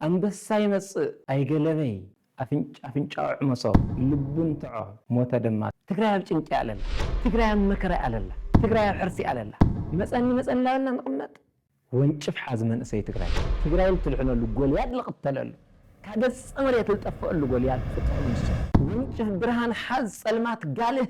ኣንበሳ ይመጽእ ኣይገለበይ ኣፍንጫ ኣፍንጫኡ ዕመጾ ልቡ እንትዖ ሞተ ደማ። ትግራይ ኣብ ጭንቂ ኣለላ ትግራይ ኣብ መከራ ኣለላ ትግራይ ኣብ ሕርሲ ኣለላ መጸኒ መጸኒ እናበልና ንቅመጥ ወንጭፍ ሓዝ መንእሰይ ትግራይ። ትግራይ ልትድሕነሉ ጎልያድ ልቅተለሉ ካብ ገጸ መሬት ልጠፈኣሉ ጎልያድ ክጥዕም ንሱ። ወንጭፍ ብርሃን ሓዝ ጸልማት ጋልህ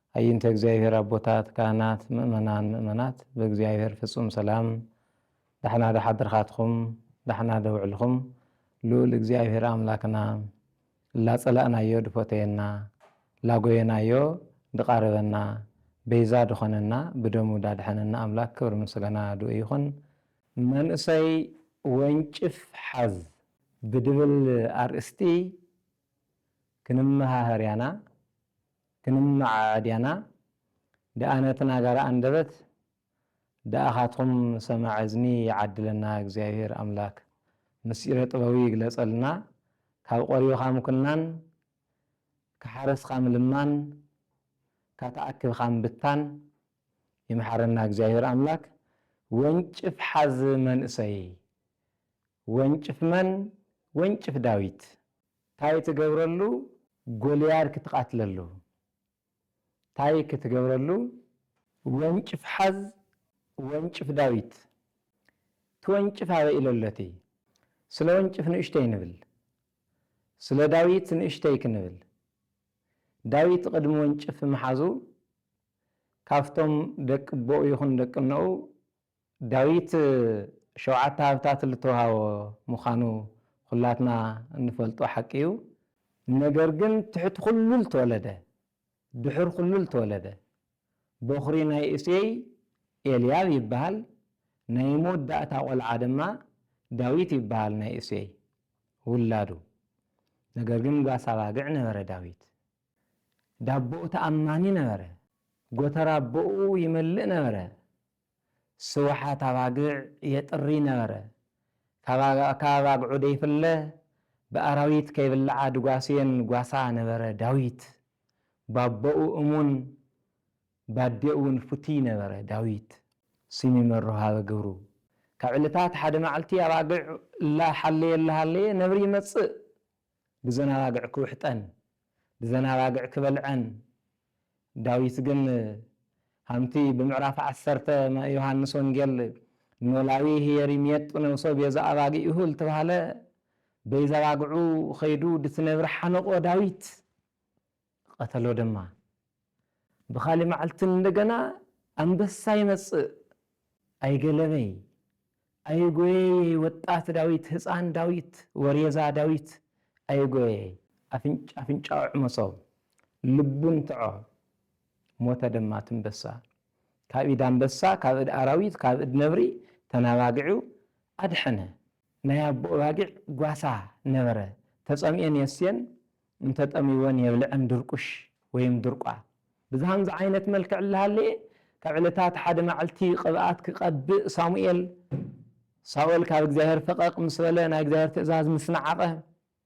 ኣይንተ እግዚኣብሔር ኣቦታት ካህናት ምእመናን ምእመናት ብእግዚኣብሔር ፍጹም ሰላም ዳሕና ዶ ሓድርካትኩም ዳሕና ዶ ውዕልኩም ልኡል እግዚኣብሔር ኣምላክና እላጸላእናዮ ድፎተየና ላጎየናዮ ድቃረበና በይዛ ድኮነና ብደሙ ዳድሐነና ኣምላክ ክብሪ ምስገና ድኡ ይኩን መንእሰይ ወንጭፍ ሓዝ ብድብል ኣርእስቲ ክንመሃሀር ያና ክንመዓዐ ዲያና ደኣ ነቲ ናጋራ ኣንደበት ደኣኻትኩም ሰማዒ እዝኒ ይዓድለና እግዚኣብሄር ኣምላክ ምሥጢረ ጥበቡ ይግለጸልና ካብ ቆሪብኻ ምኩናን ካሓረስኻ ምልማን ካተኣክብኻ ምብታን ይምሓረና እግዚኣብሄር ኣምላክ ወንጭፍ ሓዝ መንእሰይ ወንጭፍ መን ወንጭፍ ዳዊት። ታይ ትገብረሉ ጎልያድ ክትቃትለሉ ታይ ክትገብረሉ ወንጭፍ ሓዝ ወንጭፍ ዳዊት ትወንጭፍ ኣበይ ኢሎሎቲ ስለ ወንጭፍ ንእሽተይ ንብል ስለ ዳዊት ንእሽተይ ክንብል ዳዊት ቅድሚ ወንጭፍ ምሓዙ ካብቶም ደቂ ኣቦኡ ይኹን ደቂ እኖኡ ዳዊት ሸውዓተ ሃብታት ልተውሃቦ ምዃኑ ኹላትና እንፈልጦ ሓቂ እዩ። ነገር ግን ትሕቲ ኹሉ ልተወለደ፣ ድሑር ኹሉ ልተወለደ፣ በኹሪ ናይ እሴይ ኤልያብ ይበሃል፣ ናይ መወዳእታ ቆልዓ ድማ ዳዊት ይበሃል ናይ እሴይ ውላዱ። ነገር ግን ጓሳ ኣባግዕ ነበረ ዳዊት። ዳቦኡ ተኣማኒ ነበረ፣ ጎተራ ኣቦኡ ይመልእ ነበረ። ስውሓት ኣባግዕ የጥሪ ነበረ። ካብ ኣባግዑ ደይፍለ ብኣራዊት ከይብልዓ ድጓስየን ጓሳ ነበረ ዳዊት። ባቦኡ እሙን ባዴኡውን ፍቱይ ነበረ ዳዊት። ስሚ መሮ ሃበ ግብሩ። ካብ ዕለታት ሓደ መዓልቲ ኣባግዕ እላ ሓለየ እላ ሃለየ ነብሪ ይመጽእ ብዘን ኣባግዕ ክውሕጠን፣ ብዘን ኣባግዕ ክበልዐን፣ ዳዊት ግን ሃምቲ ብምዕራፍ ዓሰርተ መ ዮሃንስ ወንጌል ኖላዊ ህየሪ ምየጡ ነብሶ ቤዛ ኣባጊእሁ ልትባህለ በይዛባግዑ ኸይዱ ድትነብር ሓነቆ ዳዊት። ቐተሎ ደማ። ብኻልእ መዓልቲ እንደገና ኣንበሳ ይመጽእ፣ ኣይገለበይ፣ ኣይጎየየይ ወጣት ዳዊት፣ ህጻን ዳዊት፣ ወሬዛ ዳዊት፣ ኣይጎየየይ፣ ኣፍንጫ ኣፍንጫኡ ኣዕመሶ፣ ልቡ ንትዖ፣ ሞተ ደማ ትንበሳ። ካብ ኢድ ኣንበሳ፣ ካብ እድ ኣራዊት፣ ካብ እድ ነብሪ ተናባጊዑ ኣድሐነ፣ ናይ ኣቡኡ ኣባጊዕ ጓሳ ነበረ ተጸሚኤን የስቴን እንተጠምይወን የብልዐን ድርቁሽ ወይም ድርቋ ብዝሃም ዝዓይነት መልክዕ እላሃለየ ካብ ዕለታት ሓደ ማዕልቲ ቅብኣት ክቀብእ ሳሙኤል ሳኦል ካብ እግዚኣብሔር ፈቀቅ ምስ በለ ናይ እግዚኣብሔር ትእዛዝ ምስ ነዓቀ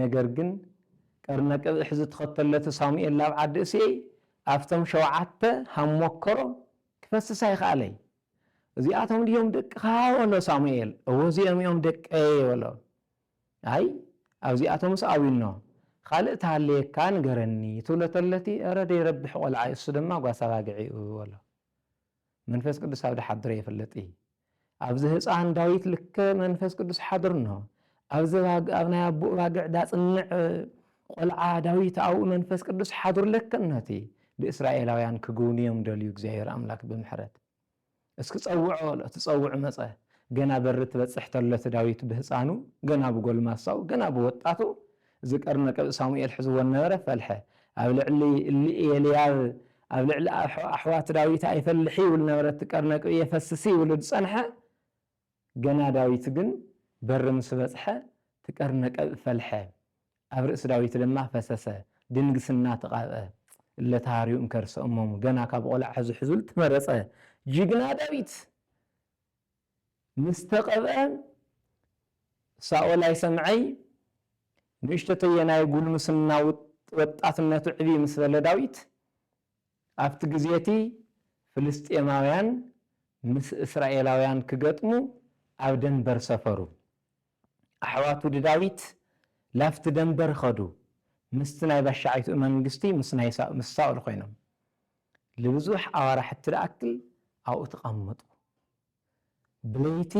ነገር ግን ቀርነ ቅብሕ ዝትኸተለቱ ሳሙኤል ላብ ዓዲ እሴይ ኣፍቶም ሸውዓተ ሃም ሞከሮ ክፈስስ ኣይኸኣለይ። እዚኣቶም ድዮም ደቅኻ በሎ ሳሙኤል። እወ እዚኦም እዮም ደቀይ በሎ። ኣይ ኣብዚኣቶምስ ኣቢኖ ኻልእ ተሃልየካ ንገረኒ ትብሎ ተለቲ እረ ደይረብሕ ቆልዓ እሱ ደማ ጓሳ ኣባግዒ እዩ በሎ። መንፈስ ቅዱስ ኣብ ድሓድረ ይፍለጥ እዪ። ኣብዚ ህጻን ዳዊት ልከ መንፈስ ቅዱስ ሓድርኖ። ኣብዚ ባግ ኣብ ናይ ኣቡኡ ባግዕ ዳጽንዕ ቆልዓ ዳዊት ኣብኡ መንፈስ ቅዱስ ሓድሩ ለከኖቲ ብእስራኤላውያን ክግውንዮም ደልዩ እግዚኣብሔር ኣምላክ ብምሕረት እስኪ ጸውዖ በሎ እቲ ጸውዑ መጸ ገና በሪ ትበጽሕ ተሎ እቲ ዳዊት ብህጻኑ ገና ብጎልማሳው ገና ብወጣቱ እዚ ቀርኒ ቅብኢ ሳሙኤል ሕዝዎ እነበረ ፈልሐ ኣብ ልዕሊ እልኤልያብ ኣብ ልዕሊ ኣሕዋት ዳዊት ኣይፈልሕ ይብል ነበረ እቲ ቀርነ ቅብኢ የፈስሲ ይብሉ ዝጸንሐ ገና ዳዊት ግን በሪ ምስ በጽሐ እቲ ቀርነ ቀብኢ ፈልሐ ኣብ ርእሲ ዳዊት ድማ ፈሰሰ ድንግስና ተቃብአ እለ ተሃርዩ እንከርሰ እሞሙ ገና ካብ ቆልዓ ሕዙ ሕዙል ተመረጸ ጅግና ዳዊት ምስ ተቐብአ፣ ሳኦል ኣይሰምዐይ፣ ንእሽቶተየ ናይ ጉልምስና ወጣትነቱ ዕብይ ምስ በለ ዳዊት፣ ኣብቲ ግዜ እቲ ፍልስጥኤማውያን ምስ እስራኤላውያን ክገጥሙ ኣብ ደንበር ሰፈሩ። ኣሕዋቱ ድዳዊት ላፍቲ ደንበር ኸዱ ምስቲ ናይ ባሻዓይትኡ መንግስቲ ምስ ናይ ምስ ሳኦል ኮይኖም ልብዙሕ ኣዋራሕቲ ድኣክል ኣብኡ ተቀመጡ ብለይቲ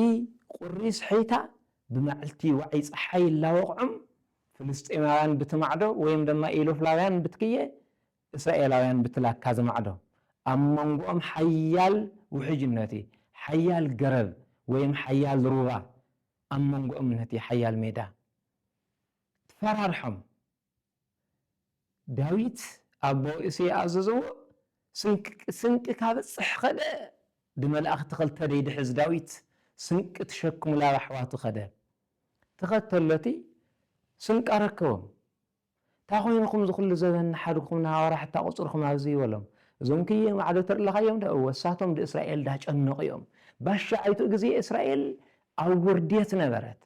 ቁሪ ስሒታ ብማዕልቲ ዋዒ ጸሓይ እላወቅዑም ፍልስጤማውያን ብቲ ማዕዶ ወይም ደማ ኢሎፍላውያን ብትክየ እስራኤላውያን ብትላካ ዝማዕዶ፣ ኣብ መንጎኦም ሓያል ውሕጅነት እዩ፣ ሓያል ገረብ ወይም ሓያል ሩባ ኣብ መንጎኦም ነቲ ሓያል ሜዳ ትፈራርሖም። ዳዊት ኣቦ እሴይ ኣዘዘዎ፣ ስንቂ ስንቂ ካብጽሕ ከደ፣ ድመላእክቲ ክልተ ደይድሕዝ ዳዊት ስንቂ ትሸክሙ ላብ ኣሕዋቱ ከደ። ተኸተሎቲ ስንቂ ኣረከቦም። ታይ ኮይንኩም እዚ ኩሉ ዘበን ናሓድግኩም ናሃዋራ ሕታ ቁፅርኩም ኣብዝዩ በሎም እዞም ክዬ ማዕዶ ትርለካዮም ዶ እወ እሳቶም ድእስራኤል ዳጨነቁ እዮም ባሻኣይቱ እግዜ እስራኤል ኣብ ውርዴት ነበረት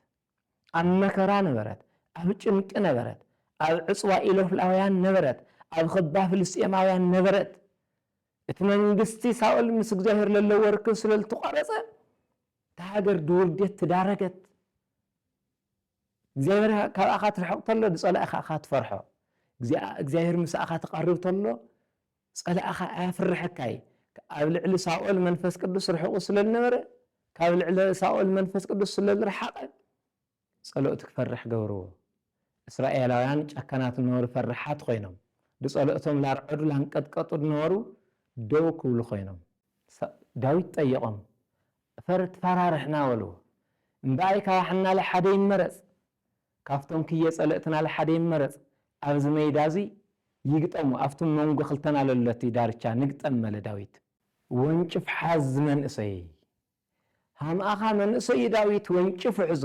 ኣብ መከራ ነበረት ኣብ ጭንቂ ነበረት ኣብ ዕፅዋ ኢሎፍላውያን ነበረት ኣብ ኽባ ፍልስጤማውያን ነበረት እቲ መንግስቲ ሳኦል ምስ እግዚኣብሄር ለለዎ ርክብ ስለልትቋረፀ እታ ሃገር ድውርዴት ትዳረገት እግዚኣብሔር ካብኣኻ ትርሕቕ ተሎ ንጸላኢኻ እኻ ትፈርሖ እግዚኣብሔር ምሳኣኻ ትቐርብ ተሎ ጸላኢኻ ኣያፍርሐካ እዪ ኣብ ልዕሊ ሳኦል መንፈስ ቅዱስ ርሕቑ ስለ ልነበረ ካብ ልዕሊ ሳኦል መንፈስ ቅዱስ ስለ ልርሓቐ ጸሎእቲ ክፈርሕ ገብርዎ እስራኤላውያን ጨካናት ነበሩ ፈርሓት ኮይኖም ብጸሎእቶም ላርዐዱ ላንቀጥቀጡ ነበሩ ደው ክብሉ ኮይኖም ዳዊት ጠየቖም እፈር ትፈራርሕና በሉ እምበኣይ ካባሕናለ ሓደ ይመረጽ ካብቶም ክየ ጸለእትናለ ሓደ ይመረጽ ኣብዚ መይዳ እዙይ ይግጠሙ ኣብቲ መንጎ ክልተና ለሎቲ ዳርቻ ንግጠም በለ ዳዊት። ወንጭፍ ሓዝ መንእሰይ ሃምኣኻ መንእሰይ ዳዊት ወንጭፉ ሕዙ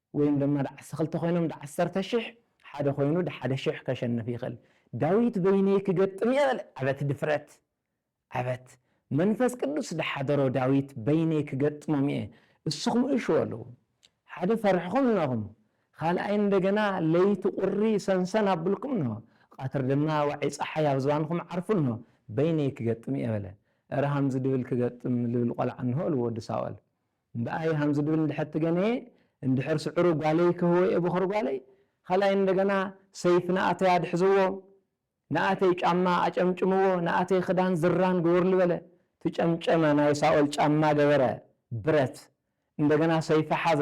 ወይም ደማ ደዓሰ ክልተ ኮይኖም ደዓሰርተ ሽሕ ሓደ ኮይኑ ደሓደ ሽሕ ከሸንፍ ይክል ዳዊት በይነይ ክገጥም እየ በለ ኣበት ድፍረት ኣበት መንፈስ ቅዱስ ደሓደሮ ዳዊት በይነይ ክገጥሞም እየ እሱኩም እሹ በሉ ሓደ ፈርሕኩም እነኩም ካልኣይ እንደገና ለይቲ ቁሪ ሰንሰን ኣብልኩም እኖ ቃትር ደማ ዋዒ ጸሓይ ኣብ ዝባንኩም ዓርፉ እኖ በይነይ ክገጥም እየ በለ እረ ሃምዚ ድብል ክገጥም ልብል ቆልዓ እነሆ እሉ ወዲ ሳወል እምበኣይ ሃምዚ ድብል እንድሕር ትገነየ እንድሕር ስዕሩ ጓለይ ክህወየ ቦኽሪ ጓለይ ኻልኣይ እንደገና ሰይፍ ንኣተይ ኣድሕዝዎ ንኣተይ ጫማ ኣጨምጭምዎ ንኣተይ ኽዳን ዝራን ግበሩሉ በለ ትጨምጨመ ናይ ሳኦል ጫማ ገበረ ብረት እንደገና ሰይፊ ሓዘ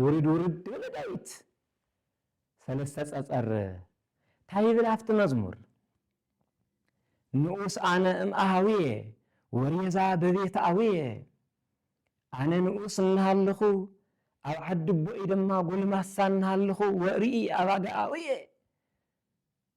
ውርድ ውርድ በለ ዳዊት ሰለስተ ጸጸር ታይ ይብል ኣብቲ መዝሙር ንኡስ ኣነ እም ኣሃውየ ወሬዛ በቤት ኣውየ ኣነ ንኡስ እናሃለኹ ኣብ ዓዲ ኣቦይ ድማ ጎልማሳ እናሃለኹ ወርኢ ኣባጋ ኣውየ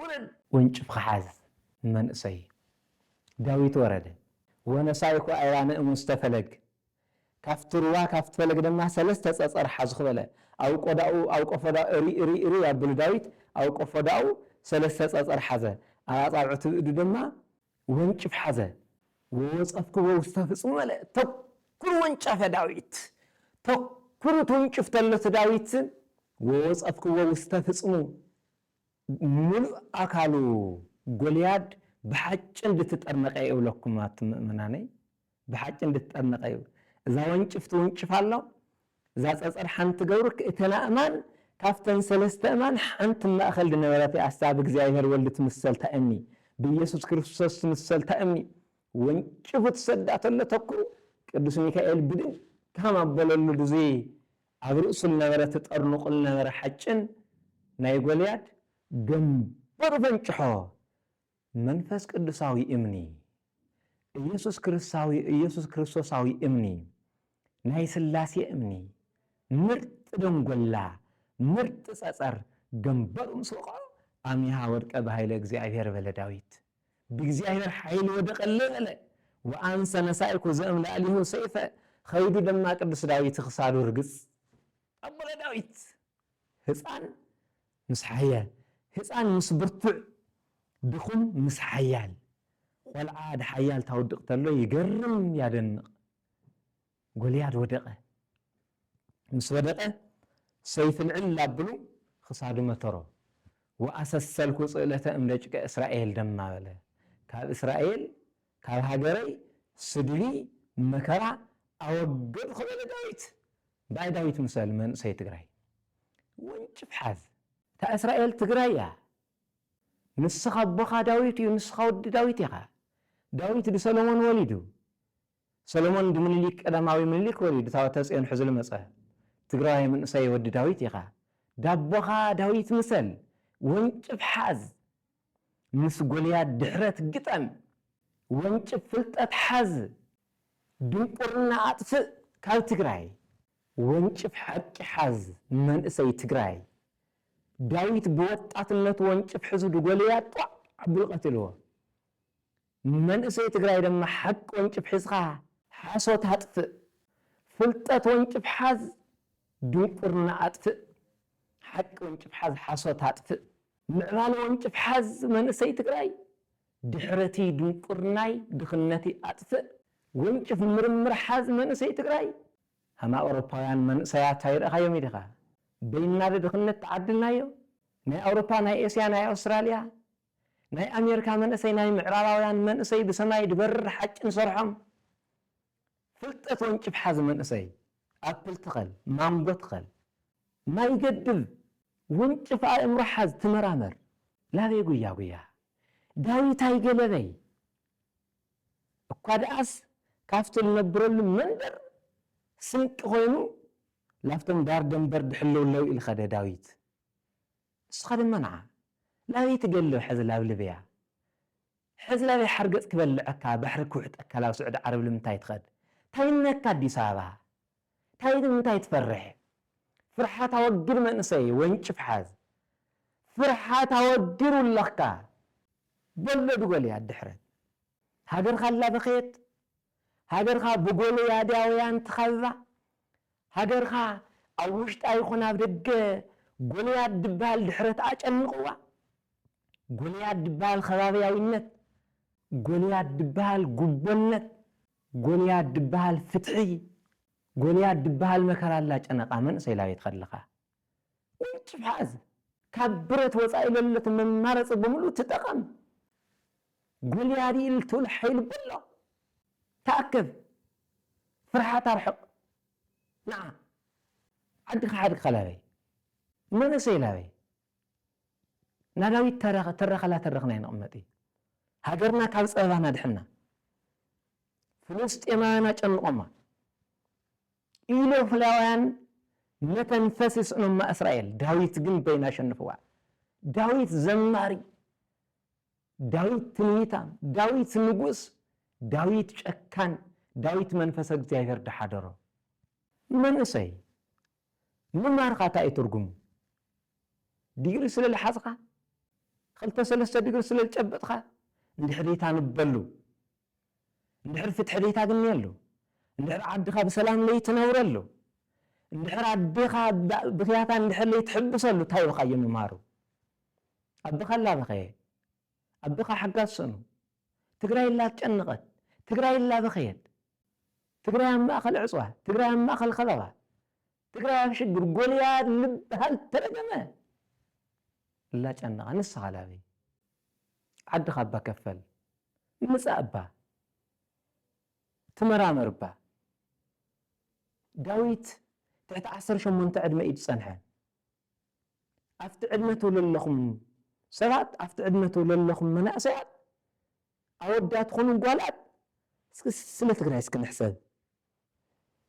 ውረድ ወንጭፍካ ሓዝ ንመንእሰይ ዳዊት ወረደ ወነሳይ እኮ ኣይራ ንእሙስተ ፈለግ ካፍቲ ሩባ ካፍቲ ፈለግ ደማ ሰለስተ ጸጸር ሓዝኩ በለ ኣብ ቆዳኡ ኣብ ቆፎዳኡ እርይ እርይ እርይ ኣብሉ ዳዊት ኣብ ቆፎዳኡ ሰለስተ ጸጸር ሓዘ ኣብ ኣጻብዕቱ ብእዱ ደማ ወንጭፍ ሓዘ ወወጸፍክዎ ውስተ ፍጽሙ በለ ተኩር ወንጨፈ ዳዊት ተኩሩ ትውንጭፍ ተሎ ትዳዊት ወወጸፍክዎ ውስተ ፍጽሙ ምሉእ ኣካሉ ጎልያድ ብሓጭን ድትጠርነቀ እዩ እብለኩም ኣቱም ምእመናነይ ብሓጭን ድትጠርነቀ እዩ እዛ ወንጭፍ ትውንጭፍ ኣሎ እዛ ጸጸር ሓንቲ ገብርክ እተን ኣእማን ካብተን ሰለስተ እማን ሓንቲ እብ ማእከል ድነበረት እያ እሳ ብእግዚኣብሔር ወልድ ትምሰል ታእምኒ ብኢየሱስ ክርስቶስ ትምሰል ታእምኒ ወንጭፉ ትሰዳ ተሎ ተኩኡ ቅዱስ ሚካኤል ብድጋም ኣበለሉ ድዙይ ኣብ ርእሱ ልነበረ ትጠርኑቑ ልነበረ ሓጭን ናይ ጎልያድ ገምበሩ ፈንጭሖ፣ መንፈስ ቅዱሳዊ እምኒ፣ ኢየሱስ ክርስሳዊ ኢየሱስ ክርስቶሳዊ እምኒ፣ ናይ ሥላሴ እምኒ፣ ምርጥ ደንጎላ፣ ምርጥ ጸጸር ገምበሩ ምስ ወቕዖ፣ ኣሚሃ ወድቀ ብኃይለ እግዚኣብሔር በለ ዳዊት። ብእግዚኣብሔር ኃይል ወደቀለ በለ ወአንሰ ነሣእኩ ዘእምላእሌሁ ሰይፈ ኸይዱ ደማ ቅዱስ ዳዊት ኽሳዱ ርግጽ ኣቦለ ዳዊት ሕፃን ምስ ሓያል ሕፃን ምስ ብርቱዕ ድኹም ምስ ሓያል ቖልዓ ድሓያል ታውድቅ ተሎ ይገርም ያደንቅ ጎልያድ ወደቐ፣ ምስ ወደቐ ሰይፍ ልዕል ኣብሉ ኽሳዱ መተሮ፣ ወኣሰሰልኩ ጽእለተ እምደጭቀ እስራኤል ደማ በለ፣ ካብ እስራኤል ካብ ሃገረይ ስድቢ መከራ ኣወገድኹ በለ ዳዊት። ባእ ዳዊት ምሰል መንእሰይ ትግራይ ወንጭፍ ሓዝ። እታ እስራኤል ትግራይ እያ ንስኻ ኣቦኻ ዳዊት እዩ ንስኻ ወዲ ዳዊት ኢኻ ዳዊት ድሰሎሞን ወሊዱ ሰሎሞን ብምኒሊክ ቀዳማዊ ምኒሊክ ወሪዱ ታወተጽዮን ሕዙ ልመጸ ትግራዋይ መንእሰይ ወዲ ዳዊት ኢኻ ዳቦኻ ዳዊት ምሰል ወንጭፍ ሓዝ ምስ ጎልያድ ድሕረት ግጠም ወንጭፍ ፍልጠት ሓዝ ድንቁርና ኣጥፍእ ካብ ትግራይ ወንጭፍ ሓቂ ሓዝ መንእሰይ ትግራይ ዳዊት ብወጣትነቱ ወንጭፍ ሕዙ ድጎልያድ ጧዕ ኣብሉ ቀትልዎ መንእሰይ ትግራይ ድማ ሓቂ ወንጭፍ ሒዝኻ ሓሶት ኣጥፍእ፣ ፍልጠት ወንጭፍ ሓዝ ድንቁርና ኣጥፍእ፣ ሓቂ ወንጭፍ ሓዝ ሓሶት ኣጥፍእ፣ ምዕባለ ወንጭፍ ሓዝ መንእሰይ ትግራይ ድሕረትይ ድንቁርናይ ድኽነትይ ኣጥፍእ፣ ወንጭፍ ምርምር ሓዝ መንእሰይ ትግራይ ሃም ኣውሮፓውያን መንእሰያት ኣይረእኻዮምይ ዲኻ በይንና ድድኽነት ተዓድልናዮ ናይ ኣውሮፓ ናይ ኤስያ ናይ ኣውስትራልያ ናይ ኣሜርካ መንእሰይ ናይ ምዕራባውያን መንእሰይ ብሰማይ ድበርር ሓጭ ንሰርሖም ፍልጠት ወንጭፍ ሓዝ መንእሰይ ኣፕል ትኸል ማንጎ ትኸል ማይ ገድብ ወንጭፍ ኣእምሮ ሓዝ ትመራመር ላበይ ጉያ ጉያ ዳዊት ኣይገለበይ እኳ ድኣስ ካብቲ ልነብረሉ መንደር ስንቂ ኮይኑ ላብቶም ዳር ደንበር ድሕልውለው ኢልኸደ ዳዊት ንስኻ ድማ ንዓ ላብይ ትገሎ ሕዚ ላብ ልብያ ሕዚ ላብይ ሓርገጽ ክበልዐካ ባሕሪ ክውሕጠካ ላብ ስዑዲ ዓረብ ልምንታይ ትኸድ ታይ እነካ ኣዲስ ኣበባ ታይ ልምንታይ ትፈርሕ ፍርሓት ኣወግድ መንእሰይ ወንጭፍ ሓዝ ፍርሓት ኣወግድ ውለኽካ በሎ ድጎልያ ድሕረት ሃገርካ ኣላ በኸየት ሃገርካ ብጎልያድያውያን ትኸብባ፣ ሃገርካ ኣብ ውሽጣ ይኹን ኣብ ደገ ጎልያድ ድበሃል ድሕረት ኣጨንቕዋ፣ ጎልያድ ድበሃል ከባብያዊነት፣ ጎልያድ ድበሃል ጉቦነት፣ ጎልያድ ድበሃል ፍትሒ፣ ጎልያድ ድበሃል መከራ ኣላጨነቓ መንእሰይ ላቤት ከለኻ። ውንጭፍ ሓዝ ካብ ብረት ወጻኢ ለለቲ መማረጺ ብምሉ ትጠቐም ጎልያዲ እልትውል ሓይል በሎ ተኣከብ ፍርሓት ኣርሕቕ ንዓ ዓድካ ሓድግካ ላበይ መንእሰይ ላበይ ናዳዊት ተረኸ ትረኸ ላተረኽና ይንቕመጢ ሃገርና ካብ ጸበባና ኣድሕና ፍልስጤማውያን ኣጨንቖማ ኢሎፍላውያን መተንፈሲ ይስእኖማ እስራኤል ዳዊት ግን በይኑ ኣሸንፍዋ ዳዊት ዘማሪ ዳዊት ትንቢታም ዳዊት ንጉስ ዳዊት ጨካን ዳዊት መንፈሰ እግዚኣብሔር ድሓደሮ መንእሰይ ምማርካ እንታይ እዩ ትርጉሙ ዲግሪ ስለ ልሓዝካ ክልተ ሰለስተ ዲግሪ ስለ ልጨበጥካ እንድሕሪታ ንበሉ እንድሕር ፍትሒ ለይታግንየሉ፣ እንድሕር ዓድኻ ብሰላም ለይትነብረሉ፣ እንድሕር ኣዴኻ ብክያታ እንድሕር ለይትሕብሰሉ ታይ ኢልኻዮ ምምሃሩ? ኣቦኻ እላበኸየ፣ ኣቦኻ ሓጋዝ ስእኑ፣ ትግራይ እላትጨነቐት፣ ትግራይ እላበኸየት፣ ትግራይ ኣብ ማእኸል ዕፅዋ፣ ትግራይ ኣብ ማእኸል ኸበባ፣ ትግራይ ኣብ ሽግር ጎልያድ ልበሃል ተረገመ ላጨናቃ ንስካ ላበይ ዓድካ እባ ከፈል ምፃእ እባ ትመራመር እባ ዳዊት ትሕቲ ዓሰርተ ሸሞንተ ዕድመ እዩ ዝፀንሐ ኣብቲ ዕድመ ተለለኩም ሰባት ኣብቲ ዕድመ ተለለኩም መናእሰያት ኣወዳት ኹኑ ጓላት ስለ ትግራይ እስኪ ንሕሰብ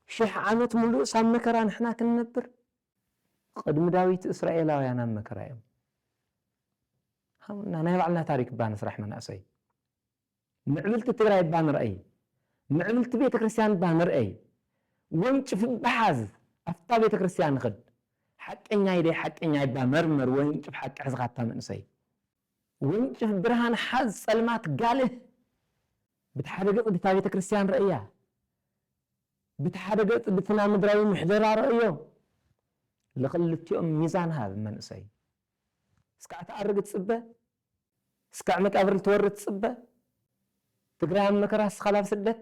ሽሕ ዓመት ምሉእስ ኣብ መከራ ንሕና ክንነብር? ቕድሚ ዳዊት እስራኤላውያን ኣብ መከራ እዮም። ሃቡና ናይ ባዕልና ታሪክ እባ ንስራሕ መናእሰይ። ምዕብልቲ ትግራይ እባ ንርኣይ። ምዕብልቲ ቤተክርስትያን እባ ንርኣይ። ወንጭፍ እባ ሓዝ ኣፍታ ቤተክርስትያን ኽድ። ሓቀኛይ ደይ ሓቀኛይ እባ መርምር ወንጭፍ ሓቂ ሕዝኻ ኣታ መንእሰይ። ወንጭፍ ብርሃን ሓዝ ጸልማት ጋልህ ብትሓደ ገጽ ድታ ቤተ ክርስቲያን ረእያ ብትሓደ ገጽ ድትና ምድራዊ ምሕደራ ረእዮ ልኽልቲኦም ሚዛን ሃብ መንእሰይ እስካዕ ትኣርግ ትጽበ እስካዕ መቃብር ልትወርድ ትጽበ ትግራይ ኣብ መከራ እስኻ ላብ ስደት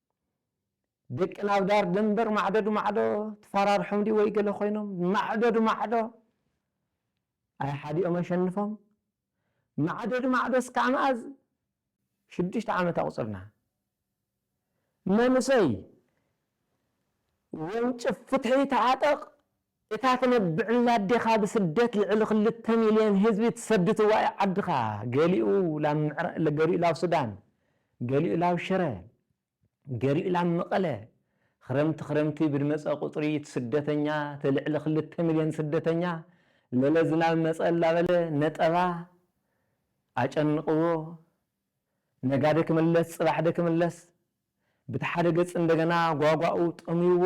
ደቂ ናብ ዳር ደንበር ማዕዶ ድማዕዶ ትፋራርሖም ድዩ ወይ ገለ ኮይኖም ማዕዶ ድማዕዶ ኣይ ሓዲኦም ኣሸንፎም ማዕዶ ድማዕዶ እስካዕ መኣዝ ሽዱሽተ ዓመት ኣቁጽርና መንእሰይ ወንጭፍ ፍትሒ ተዓጠቅ እታ ትነብዕላ ኣዴኻ ብስደት ልዕሊ ክልተ ሚልዮን ህዝቢ ትሰድትዋ እዩ ዓድኻ ገሊኡ ላብ ገሊኡ ላብ ሱዳን ገሊኡ ላብ ሽረ ገሊኡ ላብ መቐለ ኽረምቲ ኽረምቲ ብድመፀ ቁፅሪ ትስደተኛ ተልዕሊ ክልተ ሚልዮን ስደተኛ ለለ ዝናብ መፀ ላበለ ነጠባ ኣጨንቕዎ ነጋደ ክምለስ ፅባሕደ ክምለስ ብትሓደ ገፅ እንደገና ጓጓኡ ጠምይዎ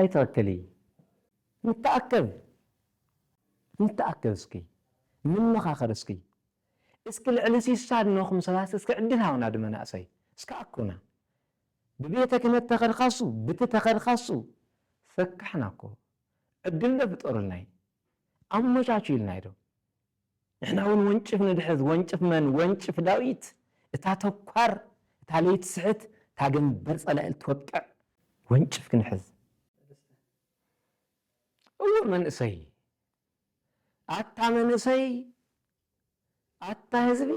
ኣይትኣከሊ ንተኣከብ ንተኣከብ እስኪ ንመኻኸር እስኪ እስኪ ልዕሊ ሲሳ ድነኹም ሰባት እስኪ ዕድል ሃቡና ድመናእሰይ እስኪ ኣኩና ብቤተ ክህነት ተኸድካሱ ብቲ ተኸድካሱ ፈካሕና እኮ ዕድል ዶ ፍጠሩልናይ ኣመቻቹልናይ ዶ ንሕና ውን ወንጭፍ ንድሕዝ ወንጭፍ መን ወንጭፍ ዳዊት እታ ተኳር እታ ለይትስሕት እታ ገንበር ጸላኢ ልትወቅዕ ወንጭፍ ክንሕዝ እወ መንእሰይ ኣታ መንእሰይ ኣታ ህዝቢ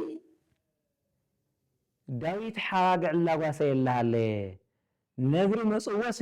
ዳዊት ሓራግዕ ላጓሰየላ ሃለየ ነብሪ መጽወሲ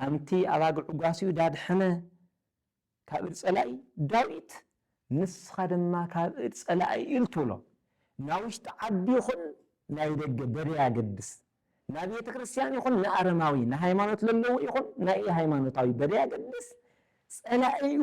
ሃምቲ ኣባግዑ ጓስዩ ዳድሐነ ካብ እድ ጸላኢ፣ ዳዊት ንስኻ ድማ ካብ እድ ጸላኢ እል ትብሎ ናይ ውሽጢ ዓዲ ይኹን ናይ ደገ በደይ ኣገድስ ናይ ቤተ ክርስቲያን ይኹን ንኣረማዊ ንሃይማኖት ለለዎ ይኹን ናይ እይ ሃይማኖታዊ በደይ ኣገድስ ጸላኢኡ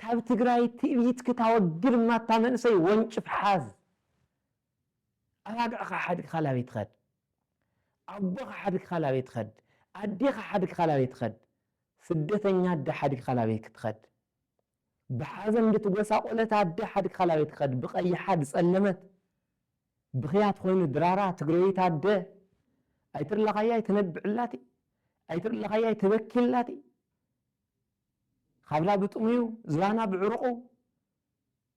ካብ ትግራይ ትእቢት ክታወግድ እማ እታ መንእሰይ ወንጭፍ ሓዝ ኣባግዕኻ ሓድግኻ ላበይ ትኸድ ኣቦኻ ሓድግኻ ላበይ ትኸድ ኣዴኻ ሓድግኻ ላበይ ትኸድ ስደተኛ ኣደ ሓድግኻ ላበይ ክትኸድ ብሓዘን ድትጎሳቆለት ኣደ ሓድግኻ ላበይ ትኸድ ብቀይሓ ድጸለመት ብኽያት ኾይኑ ድራራ ትግረዊት ኣደ ኣይትርላኻያ ኣይትነብዕላቲ ኣይትርላኻያ ኣይትበኪላቲ ካብና ብጥሙዩ ዝባና ብዕሩቑ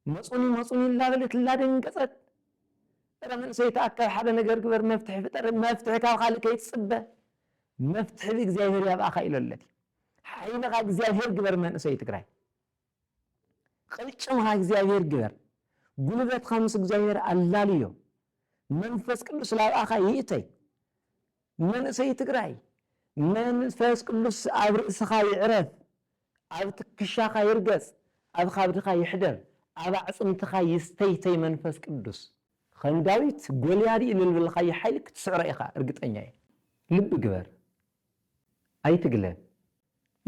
መጹኒ መጹኒ እላበለት እላደንገጸት እረ መንእሰይ ተኣከብ ሓደ ነገር ግበር መፍትሒ ፍጠር መፍትሒ ካብ ካልእ ከይትጽበ መፍትሒ ብእግዚኣብሔር ያብኣኻ ኢሎለት እዩ ሓይልኻ እግዚኣብሔር ግበር መንእሰይ ትግራይ ቅልጭምኻ እግዚኣብሔር ግበር ጉልበትኻ ምስ እግዚኣብሔር ኣላልዮ መንፈስ ቅዱስ ላብኣኻ ይእተይ መንእሰይ ትግራይ መንፈስ ቅዱስ ኣብ ርእስኻ ይዕረፍ ኣብ ትክሻኻ ይርገጽ ኣብ ኻብድኻ ይሕደር ኣብ ኣዕጽምትኻ ይስተይተይ መንፈስ ቅዱስ ኸም ዳዊት ጎልያድ ኢልልብልኻዮ ሓይሊ ክትስዕሮ ኢኻ እርግጠኛ እየ ልቢ ግበር ኣይትግለል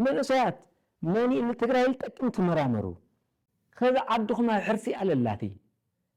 መንእሰያት መን እዩ ንትግራይ ልጠቅም ትመራመሩ ኸዚ ዓድኹም ኣብ ሕርሲ ኣለላትይ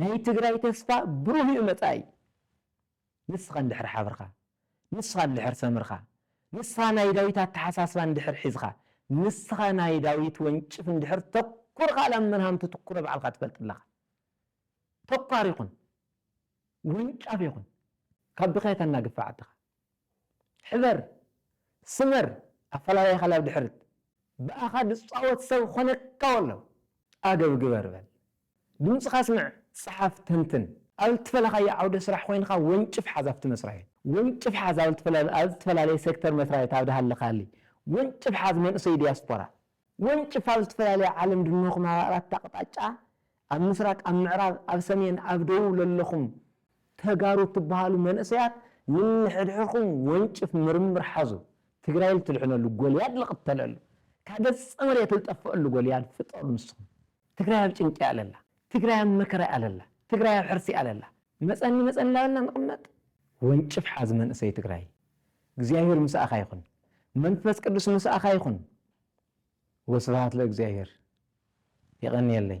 ናይ ትግራይ ተስፋ ብሩህ ዩ መጻኢ ንስኻ እንድሕር ሓብርኻ ንስኻ እንድሕር ሰምርኻ ንስኻ ናይ ዳዊት ኣተሓሳስባ እንድሕር ሒዝኻ ንስኻ ናይ ዳዊት ወንጭፍ እንድሕር ተኩርኻ ላብ መን ሃምቲ ትኩረ ባዕልኻ ትፈልጥ ኣለኻ ተኳር ይኹን ወንጫፍ ይኹን ካብ ድኻ የተናግፍ ዓድኻ። ሕበር፣ ስመር፣ ኣፈላላይኻ ናብ ድሕርት፣ ብኣኻ ዝጻወት ሰብ ክኾነካ ወሎ፣ ኣገብ ግበር በል፣ ድምጽኻ ኣስምዕ፣ ጽሓፍ፣ ተንትን። ኣብ እትፈለኻዮ ዓውደ ስራሕ ኮይንኻ ወንጭፍ ሓዝ ኣብቲ መስራይ። ወንጭፍ ሓዝ ኣብ እትፈላለየ ሴክተር መስራይት ኣብ ድሃለኻሊ ወንጭፍ ሓዝ መንእሰይ ዲያስፖራ። ወንጭፍ ኣብ ዝተፈላለያ ዓለም ድለኹም ኣብ ኣራት ኣቕጣጫ ኣብ ምስራቅ ኣብ ምዕራብ ኣብ ሰሜን ኣብ ደቡብ ለለኹም ተጋሩ ትበሃሉ መንእሰያት ንንሕድሕርኹም ወንጭፍ ምርምር ሓዙ ትግራይ ልትድሕነሉ ጎልያድ ልቕተለሉ ካብ ገፀ መሬት ልጠፈኣሉ ጎልያድ ፍጠሩ ንስኹም ትግራይ ኣብ ጭንቂ እያ ለላ ትግራይ ኣብ መከራ እያ ለላ ትግራይ ኣብ ሕርሲ እያ ለላ መፀኒ መፀኒ ላበልና ንቕመጥ ወንጭፍ ሓዝ መንእሰይ ትግራይ። እግዚኣብሔር ምሳኣኻ ይኹን መንፈስ ቅዱስ ምሳኣኻ ይኹን ወስብሃት ለእግዚኣብሔር የቐንየለይ